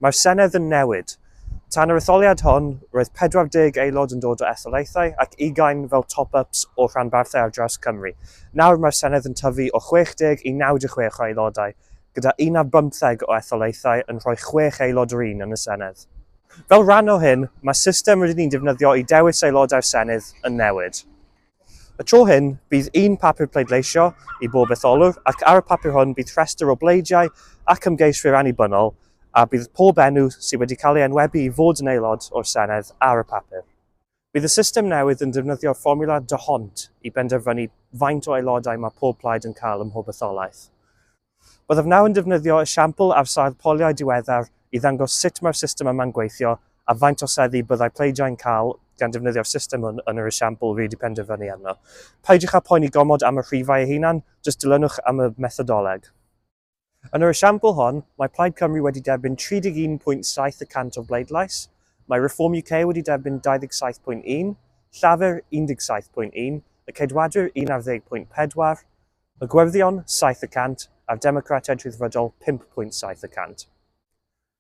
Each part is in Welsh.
Mae'r Senedd yn newid. Tan yr etholiad hon, roedd 40 aelod yn dod o etholaethau ac ugain fel top-ups o rhanbarthau ar draws Cymru. Nawr mae'r Senedd yn tyfu o 60 i 96 o aelodau, gyda un ar bymtheg o etholaethau yn rhoi chwech aelod yr un yn y Senedd. Fel rhan o hyn, mae system rydyn ni'n defnyddio i dewis aelodau'r Senedd yn newid. Y tro hyn, bydd un papur pleidleisio i bob etholwr ac ar y papur hwn bydd rhestr o bleidiau ac ymgeiswyr annibynnol a bydd pob enw sydd wedi cael ei enwebu i fod yn aelod o'r Senedd ar y papur. Bydd y system newydd yn defnyddio'r fformiwla D'Hondt i benderfynu faint o aelodau mae pob plaid yn cael ym mhob etholaeth. Byddaf nawr yn defnyddio esiampl ar sail poliau diweddar i ddangos sut mae'r system yma'n gweithio a faint o seddi byddai pleidiau'n cael gan defnyddio'r system hwn yn yr esiampl rŷd i penderfynu arno. Peidiwch â phoeni gormod am y rhifau eu hunan, jyst dilynwch am y methodoleg. Yn yr esiampl hon, mae Plaid Cymru wedi derbyn 31.7 y cant o'r bleidlais, mae Reform UK wedi derbyn 27.1, Llafur 17.1, y Ceidwadwyr 11.4, Y Gwyrddion, saith y cant, a'r Democratiaid Rhyddfrydol, pump pwynt saith y cant.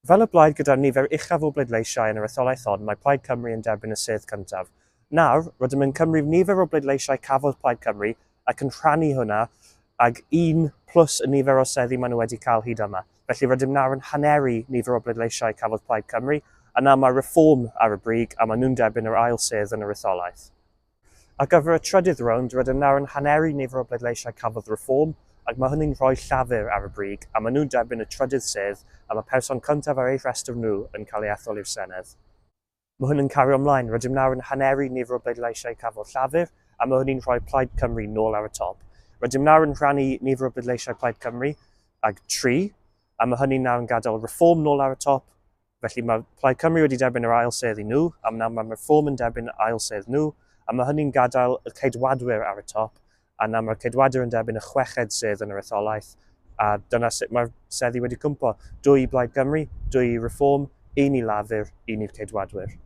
Fel y blaid gyda'r nifer uchaf o bleidleisiau yn yr etholaeth hon, mae Plaid Cymru yn derbyn y sedd cyntaf. Nawr, rydym yn cymryd nifer o bleidleisiau cafodd Plaid Cymru ac yn rhannu hwnna ag un plus y nifer o seddi maen nhw wedi cael hyd yma. Felly rydym nawr yn haneru nifer o bleidleisiau cafodd Plaid Cymru, a nawr mae Reform ar y brig a maen nhw'n derbyn yr ail sedd yn yr etholaeth. Ar gyfer y trydydd rownd, rydym nawr yn haneru nifer o bleidleisiau Cafodd Reform, ac mae hynny'n rhoi Llafur ar y brig, a maen nhw'n derbyn y trydydd sedd, a mae person cyntaf ar eu rhestr nhw yn cael ei ethol i'r Senedd. Mae hyn yn cario ymlaen, rydym nawr yn haneru nifer o bleidleisiau Cafodd Llafur, a mae hynny'n rhoi Plaid Cymru nôl ar y top. Rydym nawr yn rhannu nifer o bleidleisiau Plaid Cymru ag tri, a mae hynny nawr yn gadael Reform nôl ar y top, Felly mae Plaid Cymru wedi derbyn yr ail sedd i nhw, a nawr mae'r Reform yn derbyn yr ail sedd nhw, a mae hynny'n gadael y Ceidwadwyr ar y top, a nawr mae'r Ceidwadwyr yn derbyn y chweched sedd yn yr etholaeth, a dyna sut mae'r seddi wedi cwmpo. Dwy i Blaid Cymru, dwy i Reform, un i Lafur, un i'r Ceidwadwyr.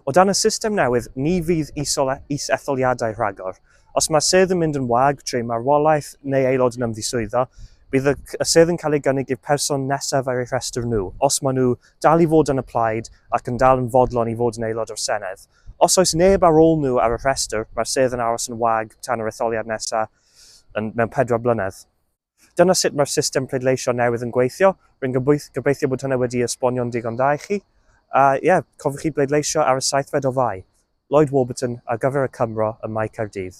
O dan y system newydd, ni fydd is-etholiadau rhagor, Os mae sedd yn mynd yn wag trwy marwolaeth neu aelod yn ymddiswyddo, bydd y sedd yn cael ei gynnig i'r person nesaf ar eu rhestr nhw, os maen nhw dal i fod yn y plaid ac yn dal yn fodlon i fod yn aelod o'r Senedd. Os oes neb ar ôl nhw ar y rhestr, mae'r sedd yn aros yn wag tan yr etholiad nesaf mewn pedwar blynedd. Dyna sut mae'r system pleidleisio newydd yn gweithio. Rwy'n gobeithio bod hynna wedi'i esbonio'n ddigon dda i chi. A ie, yeah, cofiwch chi bleidleisio ar y seithfed o Fai. Lloyd Warburton ar gyfer y Cymro ym Mae Caerdydd.